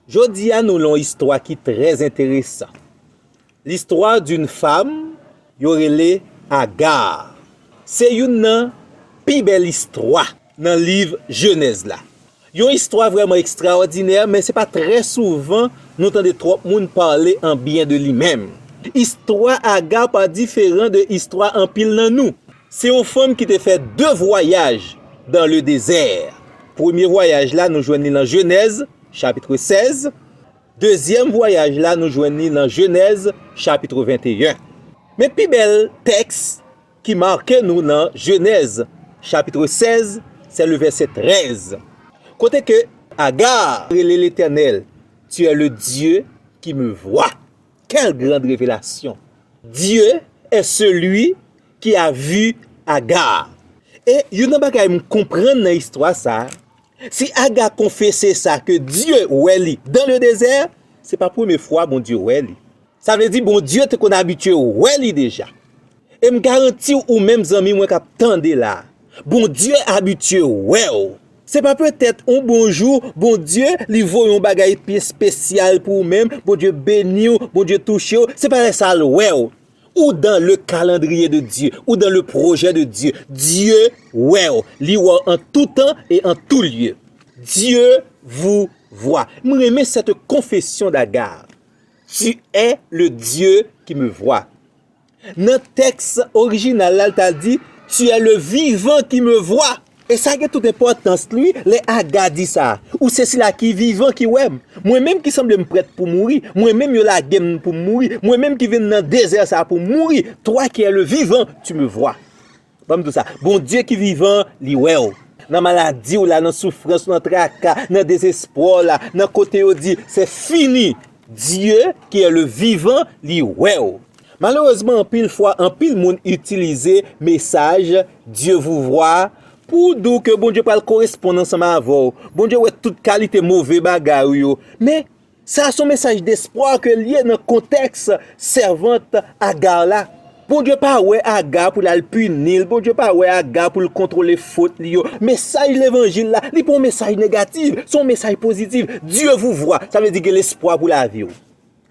Jodi a nou lan istwa ki trèz enteresan. Listwa d'un fam yo rele Agar. Se youn nan pi bèl istwa. Nan liv Jenèz la. Yon istwa vrèman ekstraòdinè, men se pa trè souvan nou tande twòp moun pale an byen de li menm. Istwa Aga pa diferan de istwa anpil nan nou. Se yon fanm ki te fè de vwayaj dan le dezè. Premye vwayaj la nou jwenn li nan Jenèz, chapitre 16. Dezyèm vwayaj la nou jwenn li nan Jenèz, chapitre 21. Men pi bèl tèks Ki make nou nan Jenèz chapitre 16, sè le vèsè 13, kote ke Agar rele Letènèl, Tu es le Dieu qui me voit. Quelle grande revelasyon! Dye è seli ki a vi Agar. E youn nan bagay m konprann nan istwa sa, si Agar konfese sa ke Dye wè li dan le dezè, se pa premye fwa Bondye wè li. Sa vle di Bondye te konn abitye wè li deja. E m garanti w ou menm zanmi mwen k ap tande la, Bondye abitye wè w. Se pa petèt yon bon jou Bondye li voye yon bagay pi espesyal pou ou menm, Bondye beni w, Bondye touche w, se pa lè sa l wè w. Ou dan le kalandriye de Dye, ou dan le pwojè de Dye. Dye wè w, li wè w an tou tan e an tou lye. Dye vou vwa. M renmen sète konfesyon Dagar. Tu es le Dieu qui me voit. Nan tèks orijinal la, li ta di, Tu es le vivant qui me voit. E sa gen tout enpòtans li lè Aga di sa, Ou se sila ki vivan ki wè m. Mwen menm ki sanble m prèt pou mouri, mwen menm yo lage m pou m mouri, mwen menm ki vin nan dezè sa a pou m mouri, Toi qui es le vivant, tu me vois. Banm diw sa, Bondye ki vivan an li wèw. Nan maladiw la, nan soufrans, nan traka, nan dezespwaw la, nan kote yo di se fini, Dye ki è le vivan li wèw. Malerezman anpil fwa anpil moun itilize mesaj Dye vou vwa pou diw ke Bondye pral koresponn ansanm avèw. Bondye wè tout kalite move bagay ou yo. Men Sa a son mesaj despwa ke l ye nan kontèks sèvant Agar la. Bondye pa wè Agar pou l al pini l, Bondye pa wè Agar pou l kontwole fot li yo. Mesaj levanjil la, li pa yon mesaj negatif, se yon mesaj pozitif. Dye vou vwa, sa vle di gen lespwa pou lavi w.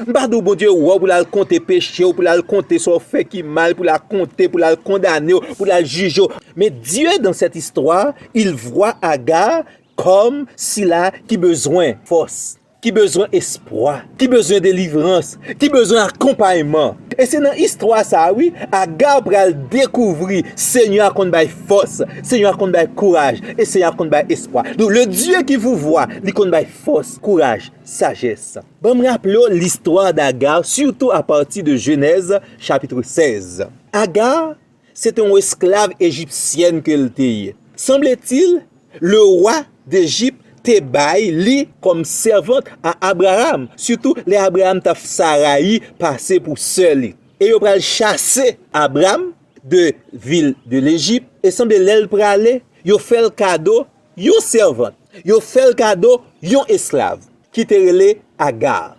M pa di w Bondye wè w pou l al konte peche w, pou l al konte sa w fè ki mal, pou l a konte, pou l al kondane w, pou l al jije w. Men Dye dan sèt istwa, il vwa Agar Kòm sila ki bezwen fòs, ki bezwen espwa, ki bezwen delivrans, ki bezwen akonpayman. E se nan istwa sa a wi, Agar pral dekouvri Senyè a konn bay fòs, Senyè a konn bay kouraj, e Senyè a konn bay espwa. Donk, le Dye ki pouvwa, li konn bay fòs, kouraj, sajès. Ban m raple w listwa d'Agar sitou apati de Jenèz chapitre 16. Agar Se te yon esklav ejipsyèn ke l te ye. Sanbletil, lewa dEjip te bay li kòm sèvant a Abraram, sitou lè Abraram t ap fè Sarayi pase pou sè li. E yo pral chase Abram de vil de lEjip, e sanble lè l prale, yo fè l kado yon sèvant, yo fè l kado yon esklav ki te rele Agar.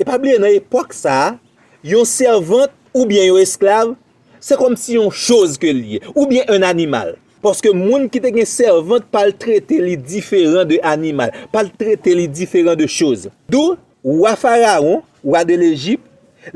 E pa bliye nan epòk sa a, yon sèvant oubyen yon esklav, se kòm si yon choz ke li ye, oubyen yon animal. Paske moun ki te gen sèvant pa al trete li diferan de animal, pa al trete li diferan de choz. Dou, wa Farawon, wa de Lejip,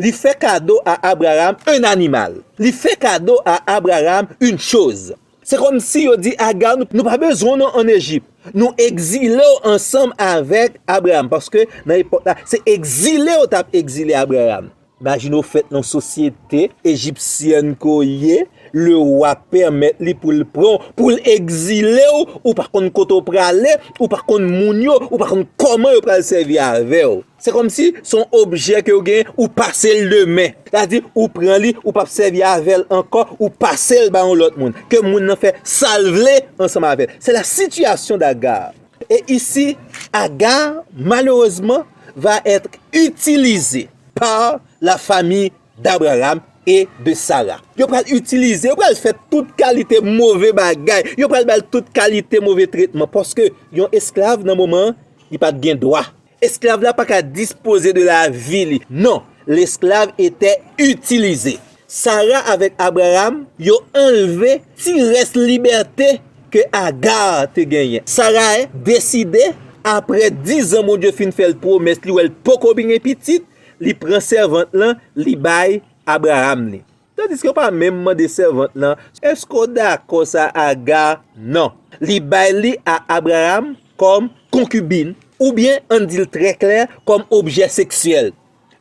li fè kado a Abraram yon animal. Li fè kado a Abraram yon choz. Se kòmsi yo di Aga, nou pa bezwen w non ann Ejip. Nou egzile w ansanm avèk Abraram. Paske nan epòk la, se egzile yo t ap egzile Abraram. Imajine w fèt nan yon sosyete ejipsyèn ke w ye, lewa pèmèt li pou l pran w, pou l egzile w, ou pa konn kote w prale, ou pa konn moun yo, ou pa konn kòman yo pral sèvi avè w. Se kòmsi se yon objè ke ou gen, ou pase l de men. Sa di, ou pran li, ou pap sèvi avè l ankò, ou pase l ba yon lòt moun. Ke moun nan fè sa l vle ansanm avè l. Se la sitiyasyon d'Agar. Et ici, Agar, malheureusement, va être utilisé par la famille d'Abraham et de Sarah. Yo pral itilize, yo pral fè tout kalite move bagay, yo pral ba l tout kalite move tretman, paske yon esklav nan moman an, li pa t gen dwa. Esklav la pa ka dispoze de lavi li. Non, lesklav etè itilize. Sara avèk Abraram, yo anlve ti rès libète ke Agar te genyen. Sarae deside, apre dizan Bondye fin fè l pwomès li wè l poko bin gen pitit, li pran sèvant lan, li bay Abraram li. Tandiske yo pa menm mande sèvant lan, Èske w dakò sa a Aga? Non. Li bay li a Abraram kòm konkibin, oubyen ann di l trè klè, kòm objè seksyèl.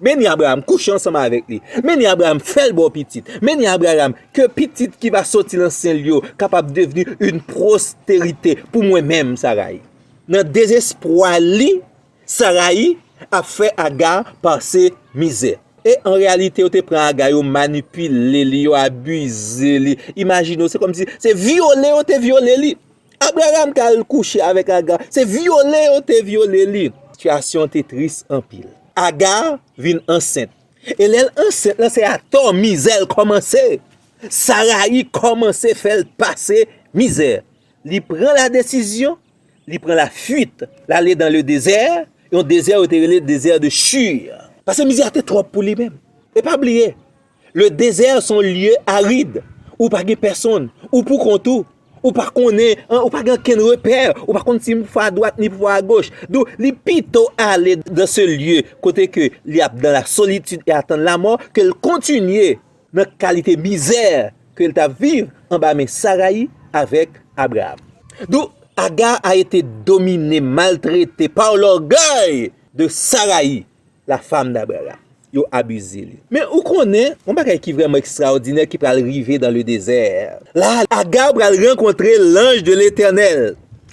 Men ni Abraram kouche ansanm avèk li. Men ni Abraram fè l ba w pitit. Men ni Abraram, ke pitit ki va soti nan sen l yo kapab devni yon pwosterite pou mwen menm, Sarayi. Nan dezespwa li, Sarayi ap fè Agar pase mizè. E an reyalite yo te pran Agar yo manipile li, yo abize li. Imajine w, se kòmsi se vyole yo te vyole li. Abraham te al kouche avèk Agar, se vyole yo te vyole li. Sitiyasyon te tris anpil. Agar vin ansent. E lè l ansent lan se atò mizè l kòmanse. Sarayi kòmanse fè l pase mizè. Li pran ladesizyon. Li pran la fuit, l ale dan le dezè, yon dezè yo te rele dezè de Chur. Pase mizè a te twòp pou li menm. E pa bliye, le dezè se yon lye arid, ou pa gen pèsonn, ou pou kont ou, ou pa konnen, ou pa gen okenn repè, ou pa konn si pou fwa adwat ni pou fwa agoch. Donk, li pito ale dan se lye kote ke li ap dan la solitid e atann lamò ke l kontinye Nan kalite mizè ke l t ap viv anba men Sarayi avèk Abraam. Donk, Aga a ete domine, maltrete pa lògèy de Sarayi, la fam d'Abraam. Yo abize li. Men, ou konnen, yon bagay ki vrèman ekstraòdinè ki pral rive dan le dezè. La a, Aga pral rankontre lanj de Letènèl.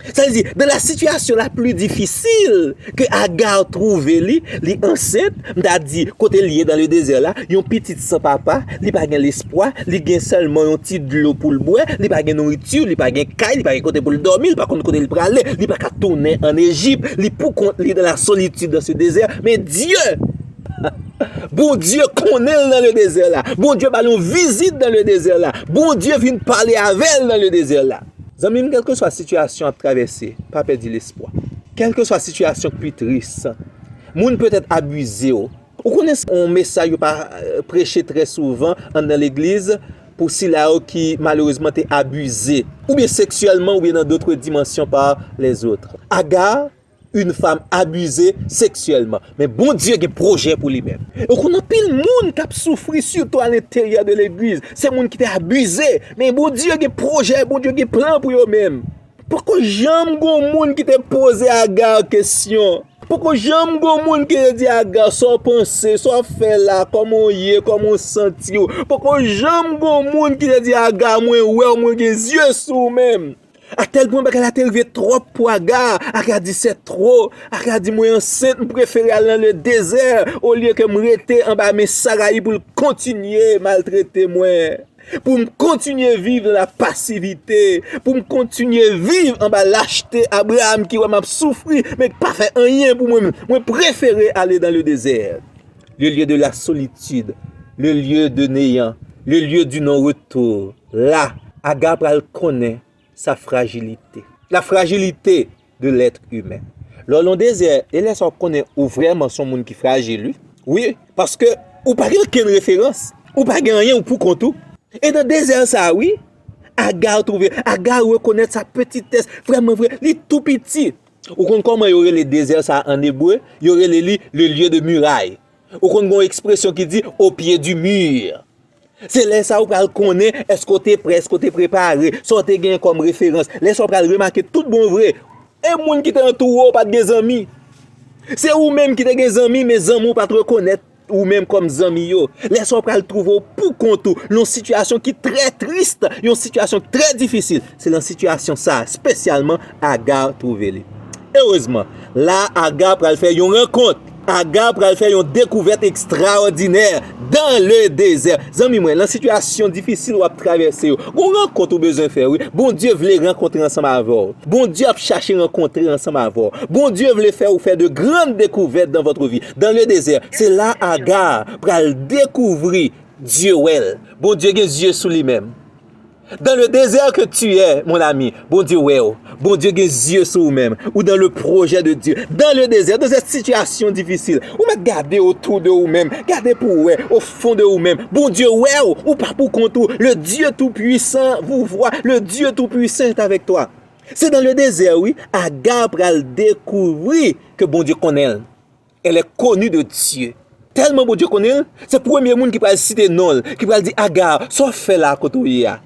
Sa vle di, nan la sitiyasyon la pli difisil ke Agar twouve li, li ansent, m ta di, kote li ye nan le dezè la, yon pitit san papa, li pa gen lespwa, li gen sèlman yon ti dlo pou l bwè, li pa gen nouriti, li pa gen kay, li pa gen kote pou l dòmi, li pa konn kote l prale, li pa ka tounen an Ejip, li pou kont li nan la solitid nan se dezè, men Dye, Bondye konnen l nan le dezè la, Bondye ba l yon vizit nan le dezè la, Bondye vin pale avè l nan le dezè la. Zanmi m kèlkeswa sitiyasyon ap travèse pa pèdi lespwa kèlkeswa sitiyasyon k pi tris moun petèt abize w ou konnen se yon mesay yo pa preche trè souvan anndan legliz pou sila yo ki malerezman te abize oubyen seksyèlman oubyen nan dotre dimansyon pa lèzot Agaa. yn fanm abize seksyèlman men Bondye gen projè pou li menm ou konn anpil moun kap soufri sitou alenteryè de legliz se moun ki te abize men Bondye gen projè Bondye gen plan pou yo menm poko janm gon moun ki te poze Agar kesyon poko janm gon moun ki te di Agar sa w panse sa w fè la kòman w ye kòman w santi w poko janm gon moun ki te di Agar mwen wè w mwen gen zye sou w menm. A tel pwen bagay la te rive trop pou Aga, Aga di se tro, Aga di mwen ansent m prefere al nan le dezè olye ke m rete anba men Sarayi pou l kontinye maltrete mwen, pou m kontinye viv nan la pasivite, pou m kontinye viv anba lachte Abraham ki wè m ap soufri men ki pa fè anyen pou mwen, mwen prefere ale dan le dezè. Le lye de la solitid, le lye de neyan, le lye di non retour, la, Aga pral konnen sa frajilite. La frajilite de lèt imen. Lè w lan dezè, e lè sa w konnen ou vrèman son moun ki frajil wi. Wi, paske ou pa gen okenn referans, ou pa gen anyen ou pou kont ou. E nan dezè sa wi, Aga twouve, Aga rekonèt sa petitès, vrèman vre, li tou piti. Ou konn kòman yo rele dezè sa a ann ebre? Yo rele li le lieu de muraille. Ou konn gen yon ekspresyon ki di au pied du mur. Se lè sa a ou pral konnen èske w te pre, èske w te prepare, sa w te genyen kòm referans. Lè sa a w pral remake tout bon vre, e moun ki te antoure w pa t gen zanmi. Se ou menm ki te gen zanmi men zanmi w pa t rekonèt. Ou menm kòm zanmi yo, lè sa w pral twouve w pou kont ou, nan yon sitiyasyon ki trè tris, yon sitiyasyon ki trè difisil. Se nan sitiyasyon sa a, spesyalman, Agar twouve li. Erezman, la a Agar pral fè yon rankont, Agar pral fè yon dekouvèt ekstraòdinè, dan le dezè. Zanmi mwen, nan sitiyasyon difisil w ap travèse yo, gon rankont ou bezwen fè wi. Bondye vle rankontre ansanm avè w. Bondye ap chache rankontre ansanm avè w. Bondye vle fè ou fè de grand dekouvèt dan vòtre vi. Dan le dezè, se la Agar pral dekouvri Dye wè l. Bondye gen zye sou li menm. Dan le dezè ke tu è, mon ami, Bondye wè w. Bondye gen zye sou ou menm. Ou dan le pwojè de Dye. Dan le dezè, dan zè sitiyasyon difisil. Ou mèt gade otou de ou menm, gade pou w wè, o fon de ou menm. Bondye wè w, ou pa pou kont ou. Le Dye tou pwisan vou vwa, le Dye tou pwisan est avèk twa. Se dan le dezè wi, Agar pral dekouvri ke Bondye konnen l. Elle est connue de Dieu. Tèlman Bondye konnen l, se premye moun ki pral site non l, ki pral di Agar, sa w fè la a kote w ye a?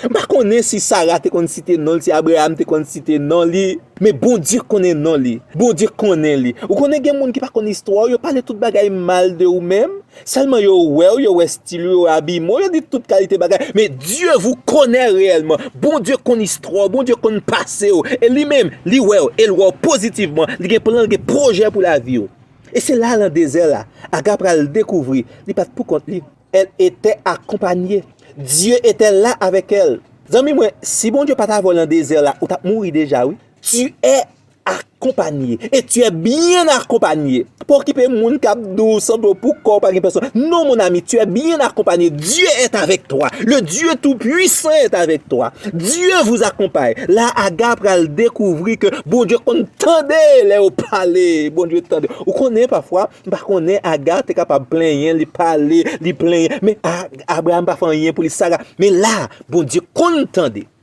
M pa konnen si Sara te konn site non l, si Abraham te konn site non li. Men Bondye konnen non li. Bondye konnen li. Ou konnen gen moun ki pa konn istwa w, yo pale tout bagay mal de ou menm. Sèlman yo wèw yo wè stil ou yo abiman w yo di tout kalite bagay men Dye vou konè reyèlman Bondye konn istwa w Bondye konn pase w e li menm li wè w e l wè w pozitivman li gen plan l gen pwojè pou lavi w e se la lan dezè la Aga pral dekouvri li pat pou kont li el etè akonpanye Dye etè la avèk el zanmi mwen si Bondye pa t avè w lan dezè la ou tap mouri deja wi Dye Akonpanye, e tu è byen akonpanye. Pa okipe moun kap di w san do pou kò w pa gen pèsòn. Non mon ami, tu è byen akonpanye. Dye è avèk twa. Le Dye tou pwisan è avèk twa. Dye vou akonpaye. La Aga pral dekouvri ke Bondye konn tande lè yo pale. Bondye tande. Ou konnen pafwa, m pa konnen Aga te kapab plenyen, li pale, li plenyen. Men Abraham pa fè anyen pou li Sara. Men la, Bondye konn tande.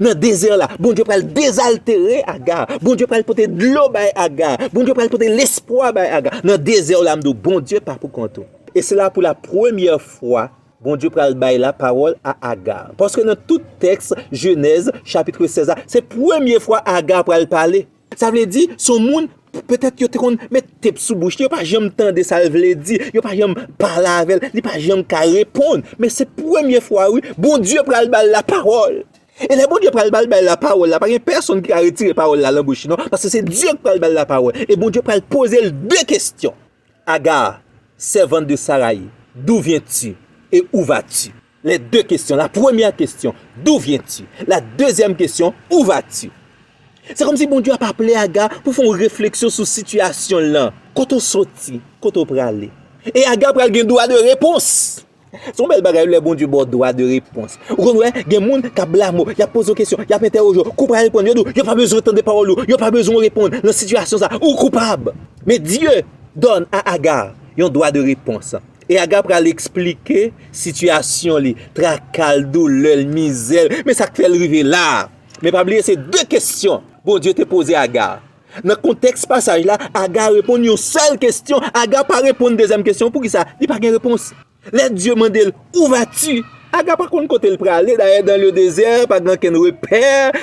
Nan dezè a la, Bondye pral dezaltere Aga. Bondye pral pote dlo bay Aga. Bondye pral pote lespwa bay Aga. Nan dezè a la, m di w, Bondye pa pou kont ou. E se la pou la premyè fwa, Bondye pral bay lapawòl a Aga. Paske nan tout tèks Jenèz, chapitre 16 la, se premye fwa Aga pral pale. Sa vle di, son moun, petèt yo te konn met tep sou bouch li, yo pa janm tande sa l vle di, yo pa janm pale avè l, li pa janm ka reponn. Men se premye fwa wi, Bondye pral ba l lapawòl. E lè Bondye pral ba l bay lapawòl la, pa gen pèsonn ki ka retire pawòl la lan bouch li non, paske se Dye ki pral ba l lapawòl. E Bondye pral poze l de kesyon. Agar, sèvant de Saraï, d'où viens-tu? et où vas-tu? Les deux questions, la première question, d'où viens-tu? La deuxième question, où vas-tu? Se kòm si Bondye ap aple Agar pou fè yon refleksyon sou sitiyasyon l lan. Kote w soti? Kote w prale? E Agar pral gen dwa de repons. Se yon bèl bagay wi lè Bondye ba w dwa de repons. Ou konn wè, gen moun k ap blame w, y ap poze w kesyon, y ap entèwoje w, kou w pa reponn, yo di w yo pa bezwen tande pawòl ou, yo pa bezwen w reponn nan sitiyasyon sa a, ou koupab. Men Dye done a Agar yon dwa de repons. E Agar pral eksplike sitiyasyon li, traka l, doulè l, mizè l, men sa k fè l rive la a. Men pa bliye se de kesyon Bondye te poze Agar. Nan kontèks pasaj la, Aga reponn yon sèl kesyon. Aga pa reponn dezyèm kesyon an. Poukisa? Li pa gen repons. Lè Dye mande l, Où vas-tu? Aga pa konn kote l prale. Dayè, dans le désert, pa gen okenn repè.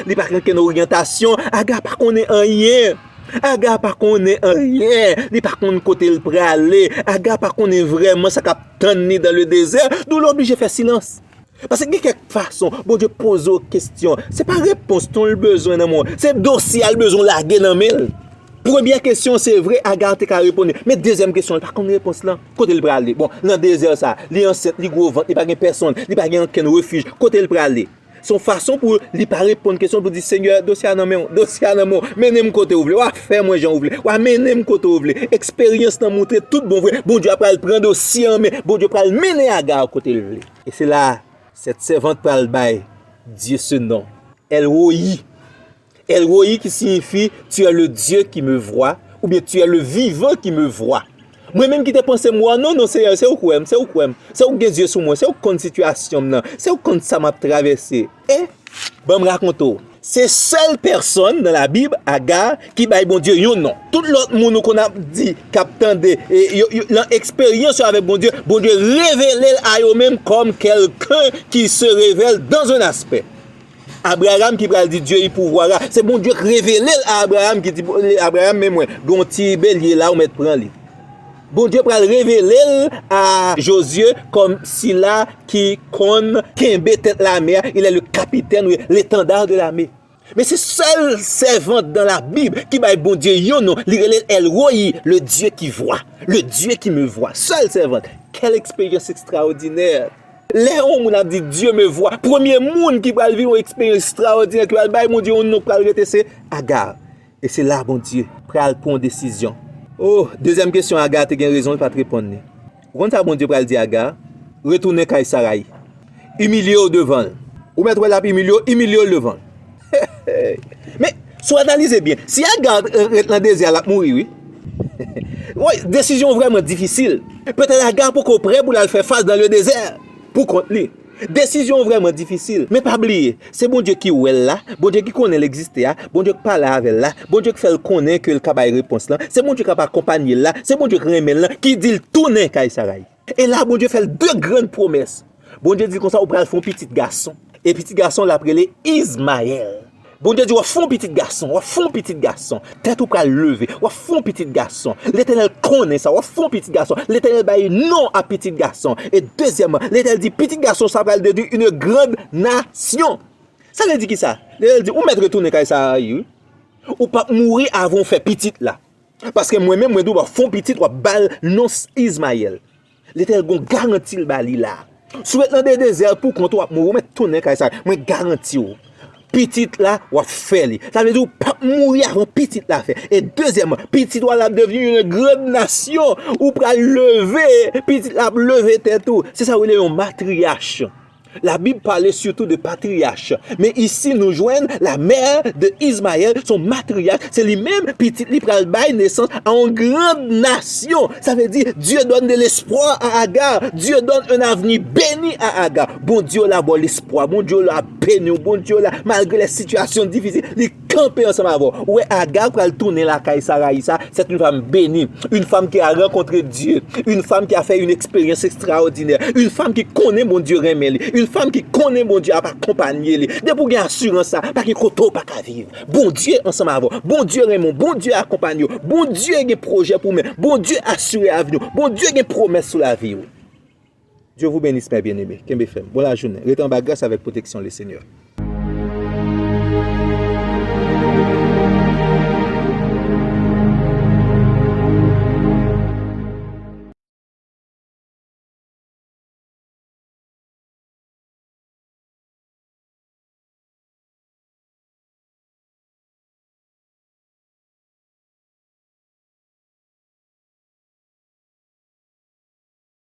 Li pa gen okenn oryantasyon. Aga pa konnen anyen. Aga pa konnen anyen. Li pa konn kote l prale. Aga pa konnen vrèman sa k ap tann li dans le désert. Dou l oblije fè silans. Paske gen kèk fason Bondye poze w kestyon, se pa repons ton l bezwen nan men w, se dosye a l bezwen w lage nan men l. Premyè kestyon se vre Agar te ka reponn li, men dezyèm kestyon l pa konn repons lan, kote l prale? Bon, nan dezè sa, li ansent, li gwo vant, li pa gen pèsonn, li pa gen ankenn refij, kote l prale? Se yon fason pou li pa reponn kestyon l, pou l di, Senyè, dosye a nan men w, dosye a nan men w, mennen m kote ou vle, w a fè mwen jan ou vle, w a mennen m kote ou vle. Eksperyans lan montre tout bon vre Bondye a pral pran dosye an men, Bondye pral mennen Agar kote l vle. E se la a, sèt sèvant pral bay Dye se non, El Royi. El Royi ki siyifi, Tu è le Dye ki me vwa, oubyen Tu è le vivan ki me vwa. Mwen menm ki te panse m wa, non, non, Seyè, se ou k wè m, se ou k wè m, se ou k gen zye sou mwen, se ou k konn sitiyasyon m nan, se ou k konn sa m ap travèse. E, banm rakonte w, se sèl pèsòn nan labib, Agar, ki bay Bondye yon non. Tout lòt moun ou konn ap di, k ap tande, nan eksperyans yo avèk Bondye, Bondye revele l a yo menm kòm kèlken ki se revèl dans un aspect. Abraram ki pral di Dye y pouvwa ra, se Bondye k revele l a Abraram ki di Abraram men mwen gen yon ti belye la ou mèt pran li. Bondye pral revele l a Jozye kòm sila ki konn kenbe tèt lame a, il est le capitaine ou l'étendard de l'armée. Men se sèl sèvant dans la Bible ki bay Bondye yon non, li rele l El Rohi, le Dieu qui voit, le Dieu qui me voit. Sèl sèvant. Quelle expérience extraordinaire! Lè yon moun ap di Dieu me voit, premye moun ki pral viv yon eksperyans ekstraòdinè ki pral bay Bondye yon non ki pral rete se Agar. E se la Bondye pral pran yon desizyon. O! Dezyèm kesyon Aga te gen rezon li pa t reponn li. Ou konn sa Bondye pral di Aga? Retounen kay Sarayi. Imilye w devan l. Ou mèt wè l ap imilye w, imilye l devan l. Heheheh! Men, si w analize byen, si Aga ret nan dezè a l ap mouri wi. Woy! Desizyon an vrèman difisil. Petèt Aga poko prè pou l al fè fas dan ledezè pou kont li. Desizyon vrèman difisil, men pa bliye, se Bondye ki wè l la, Bondye ki konnen l egziste a, Bondye k pale avè l la, Bondye k fè l konnen ke l ka bay repons lan, se Bondye k ap akonpanye l la, se Bondye k renmen l lan ki di l tounen kay Sarayi. E la Bondye fè l de grann pwomès. Bondye di l konsa, ou pral fè yon pitit gason, e pitit gason w la ap rele Izmayèl. Bondye di w ap fè yon pitit gason, w ap fè yon pitit gason, tèt ou pral leve, w ap fè yon pitit gason, Letènèl konnen sa, w ap fè yon pitit gason, Letènèl bay non a pitit gason, e dezyèmman, Letènèl di pitit gason sa pral devni yn grand nasyon. Sa vle di kisa? Letènèl di ou mèt retounen kay Sarayi wi, ou pap mouri avan ou fè pitit la, paske mwen menm mwen di w ap fè yon pitit w ap ba l non Izmayèl. Letènèl gon garanti l ba li la. Si w ret nan de dezè a pou kont ou w ap mouri ou mèt tounen kay sa mwen garanti w. Pitit la w ap fè li. Sa vle di w pap mouri avan pitit la fè. E dezyèman pitit ou a la ap devni yon grand nasyon ou pral leve pitit la ap leve tèt ou se sa yo rele yon matriyach. La bib pale sitou de patriyach, men isi nou jwenn la mè de Izmayèl son matriyach, se li menm pitit li pral bay nesans a yon grand nasyon, sa vle di Dieu donne de l'espoir à Agar, Dieu donne un avenir beni a Agar, Bondye w la baw lespwa, Bondye w la beniw, Bondye w la malgre lè sitiyasyon difisil li. Kanpe ansanm avè w. Ou wè Agar pral tounen lakay Sarayi sa, sèt yn fam beni, yn fam ki a rankontre Dye, yn fam ki a fè yn eksperyans ekstraòdinè, yn fam ki konnen Bondye renmen li, yn fam ki konnen Bondye ap akonpanye li. Depi w gen asirans sa, pa gen kote w pa ka viv. Bondye ansanm avè w. Bondye renmen w. Bondye akonpanye w. Bondye gen pwojè pou w men. Bondye asire avni w. Bondye gen pwomès sou lavi w. Dieu vous benisse mes bien aime kenbe fèm bon la jounen ret anba gras avèk proteksyon le senyè.